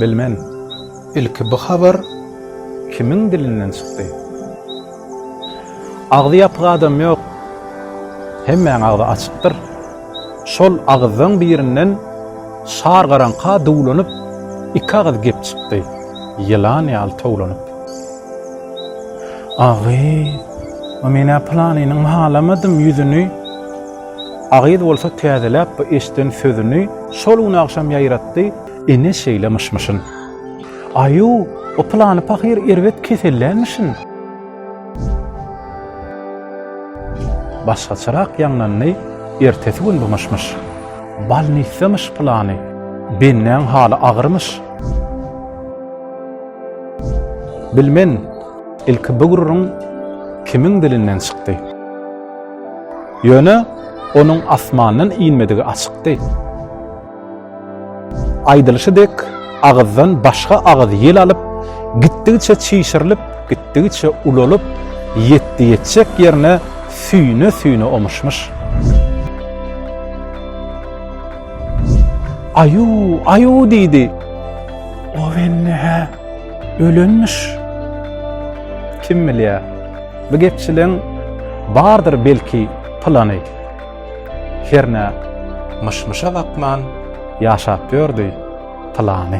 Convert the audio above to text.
Bilmen, ilki bu habar kimiň dilinden çykdy? Agzy ýapyk adam ýok, hemmäň agzy açykdyr. Şol agyzlaň birinden şar garaňka duwlanyp, iki agyz gep çykdy, ýylan ýaly towlanyp. Agy, a men-ä pylanynyň halamadym ýüzüni. Agyz bolsa täzeläp bu eşden sözüni şol gün agşam ýaýratdy, ine şeýle myş-myşyn. Aýu, o pylany pahyr erbet kesellämişin. Başgaçarak ýaňlandy ertesi gün bu myş-myş. Balnisdamyş pylany. Bennäň haly agyrmyş. Bilmen, ilki bu gürrüň kimiň dilinden çykdy. Ýöne onuň asmandan inmedigi açykdy. Aýdylyşy dek, agyzdan başga agyz ýel alyp, gitdigiçe çişirilip, gitdigiçe ulalyp, ýetdi ýetjek ýerine süýne-süýne omuşmyş. Aýu, aýu diýdi. O belli hä, ölenmiş. Kim bilýä, bu gepçiliň bardyr belki plany. Hernä, myş-myşa bakman ýaşap ýördi plany.